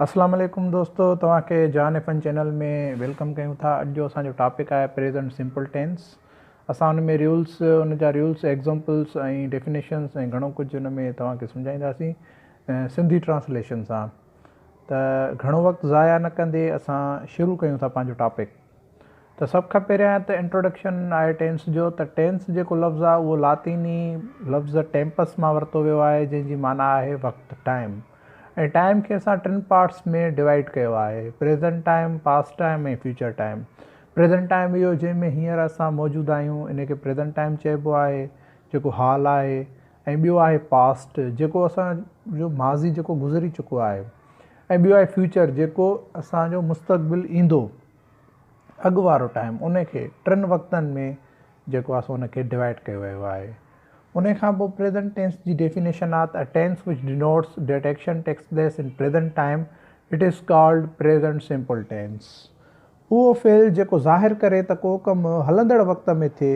اسلام عليڪم دوستو توهان کي جان ايف اين چينل ۾ ويلڪم ڪيون ٿا اڄ جو اسان جو ٽاپڪ آهي پريزنٽ سمپل ٽينس اسان ان ۾ ريولس ان جا ريولس ايگزامپلس ۽ ڊيفينيشنس ۽ گهڻو ڪجهه ان ۾ توهان کي سمجهائينداسين سنڌي ٽرانسليشن سان ته گهڻو وقت ضايع نه ڪندي اسان شروع ڪيون ٿا پنهنجو ٽاپڪ ته سڀ کان پهريان ته انٽروڊڪشن آهي ٽينس جو ته ٽينس جيڪو لفظ آهي اهو لاطيني لفظ ٽيمپس مان ورتو ويو آهي جنهن جي معنيٰ آهي وقت، Time، ۽ ٽائيم کي اسان ٽن پارٽس ۾ ڊوائيڊ ڪيو آهي، present time, past time ۽ future time. Present time اهو جنهن ۾ هينئر اسان موجود آهيون ان کي پريزنٽ ٽائيم چئبو آهي جيڪو حال آهي ۽ ٻيو آهي پاسٽ جيڪو اسان جو ماضي جيڪو گذري چڪو آهي ۽ ٻيو آهي فيوچر جيڪو اسان جو مستقبل ايندو اڳ وارو ٽائيم ان کي ٽن وقتن ۾ جيڪو آهي سو ان کي ڊوائيڊ ڪيو ويو آهي ان کان پوء پريزنٽ ٽينس جي definition that a tense which denotes that action takes place in present time it is called present simple tense اهو فعل جيڪو ظاهر ڪري ته ڪو ڪم هلندڙ وقت ۾ ٿئي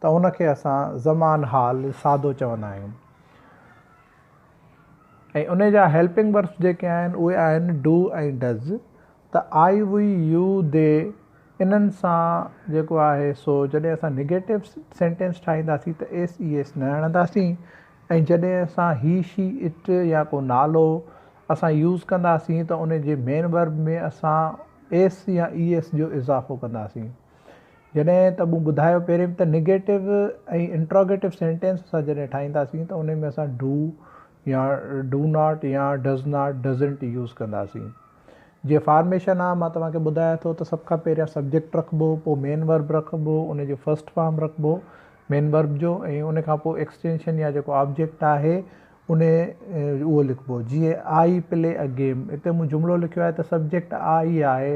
ته ان کي اسان زمان حال سادو چوندا آهيون ۽ ان جا هيلپنگ وربس جيڪي آهن اهي آهن ڊو ۽ ڊز ته آء وي يو دي انهن سان جيڪو آهي سو جڏهن اسان نيگيٽو سينٽينس ٺاهينداسين ته ايس اي ايس نه هڻنداسين ۽ جڏهن اسان هي شي اٽ يا ڪو نالو اسان يوز ڪنداسين ته ان جي مين ورب ۾ اسان ايس يا اي ايس جو اضافو ڪنداسين جڏهن ته مون ٻڌايو پهرين به ته نيگيٽو ۽ انٽروگيٽو سينٽينس اسان جڏهن ٺاهينداسين ته ان ۾ اسان ڊو يا ڊو ناٽ يا ڊز ناٽ ڊزنٽ يوز ڪنداسين جيئن فارميشن آ مان توهان کي ٻڌايان ٿو ته سڀ کان پهريان سبجيڪٽ رکبو پوء مين ورب رکبو ان جو فرسٽ فارم رکبو مين ورب جو ۽ ان کان پوء ايڪسٽينشن يا جيڪو آبجيڪٽ آهي ان اهو لکبو جيئن آئي پلي اي گيم اتي مون جملو لکيو آهي ته سبجيڪٽ آئي آهي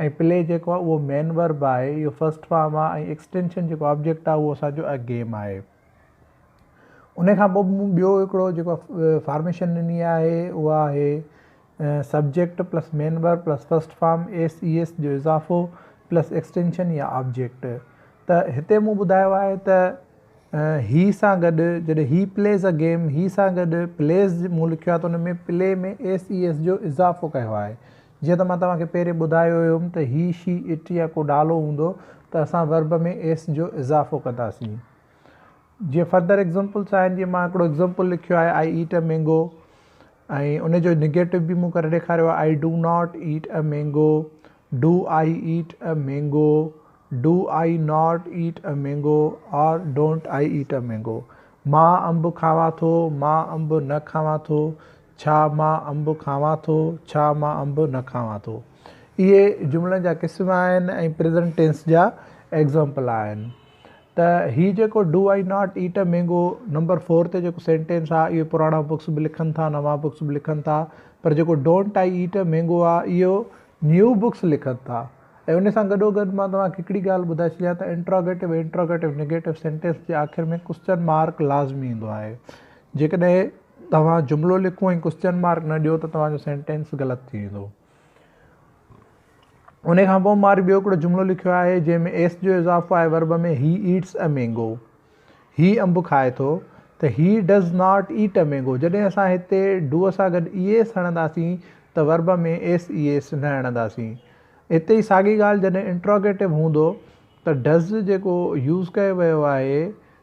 ۽ پلي جيڪو آهي اهو مين ورب آهي اهو فرسٽ فارم آهي ۽ ايڪسٽينشن جيڪو آبجيڪٽ آهي اهو اسان جو اي گيم آهي. ان کان پوء مون ٻيو هڪڙو جيڪو فارميشن ڏني آهي اها آهي subject plus main verb plus first form S E S جو اضافو پلس ايڪسٽينشن يا آبجيڪٽ ته هتي مون ٻڌايو آهي ته هي سان گڏ جڏهن هي پليز ا گيم هي سان گڏ پليز مون لکيو آهي ته ان ۾ پلي ۾ ايس اي ايس جو اضافو ڪيو آهي جيئن ته مان توهان کي پهرين ٻڌايو هيم ته هي، شي، اٽ يا ڪو نالو هوندو ته اسان ورب ۾ ايس جو اضافو ڪنداسين. جيئن فردر ايگزامپلس آهن جيئن مان هڪڙو ايگزامپل لکيو آهي آء ايٽ اي مينگو ۽ ان جو نيگيٽو به مون ڪري ڏيکاريو آهي I do not eat a mango, do I eat a mango, do I not eat a mango or don't I eat a mango, مان انب کاوان ٿو، مان انب نه کاوان ٿو، ڇا مان انب کاوان ٿو؟ ڇا مان انب نه کاوان ٿو؟ اهي جملن جا قسم آهن ۽ پريزنٽ ٽينس جا ايگزامپل آهن ته هي جيڪو do I not eat a mango number four تي جيڪو سينٽينس آهي اهو پراڻا بڪس به لکن ٿا نوان بڪس به لکن ٿا پر جيڪو don't I eat a mango آهي اهو نيو بڪس لکن ٿا ۽ ان سان گڏو گڏ مان توهان کي هڪڙي ڳالهه ٻڌائي ڇڏيان ته انٽراگيٽو ۽ انٽراگيٽو نيگيٽو سينٽينس جي آخر ۾ ڪوسچن مارڪ لازمي ايندو آهي جيڪڏهن توهان جملو لکو ۽ ڪوسچن مارڪ نه ڏيو ته توهان جو سينٽينس غلط ٿي ويندو. ان کان پوء ماري ٻيو هڪڙو جملو لکيو آهي جنهن ۾ ايس جو اضافو آهي verb ۾ he eats a mango هي انب کائي ٿو ته هي does not eat a mango جڏهن اسان هتي ڊو سان گڏ اي ايس هڻنداسين ته ورب ۾ ايس اي ايس نه هڻنداسين اتي ئي ساڳي ڳالهه جڏهن انٽروگيٽو هوندو ته ڊز جيڪو يوز ڪيو ويو آهي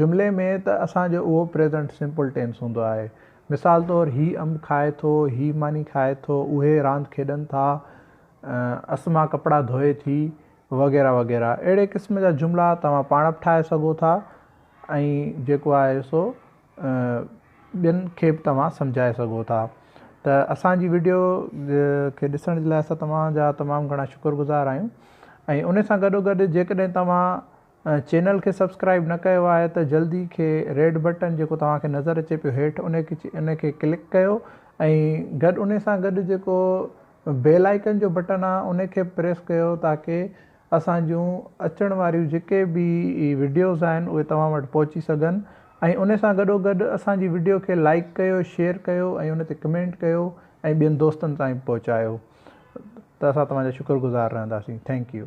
جملي ۾ ته اسان جو اهو پريزنٽ سمپل ٽينس هوندو آهي. مثال طور هي انب کائي ٿو، هي ماني کائي ٿو، اهي راند کيڏن ٿا، اسما ڪپڙا ڌوئي ٿي، وغيره وغيره اهڙي قسم جا جملا توهان پاڻ به ٺاهي سگهو ٿا ۽ جيڪو آهي سو ٻين کي به توهان سمجهائي سگهو ٿا ته اسان جي وڊيو کي ڏسڻ جي لاء اسان توهان جا تمام گهڻا شڪر گذار آهيون ۽ ان سان گڏو گڏ جيڪڏهن توهان چينل کي سبسڪرائيب نه ڪيو آهي ته جلدي کي ريڊ بٽن جيڪو توهان کي نظر اچي پيو هيٺ ان ان کي ڪلڪ ڪيو ۽ گڏ ان سان گڏ جيڪو بيل آئيڪن جو بٽن آهي ان کي به پريس ڪيو تاڪي اسان جون اچڻ واريون جيڪي به وڊيوز آهن اهي توهان وٽ پهچي سگهن ۽ ان سان گڏو گڏ اسان جي وڊيو کي لائڪ ڪيو شيئر ڪيو ۽ ان تي ڪمينٽ ڪيو ۽ ٻين دوستن تائين به پهچايو ته اسان توهان جا شڪر گذار رهنداسين ٿينڪ يو.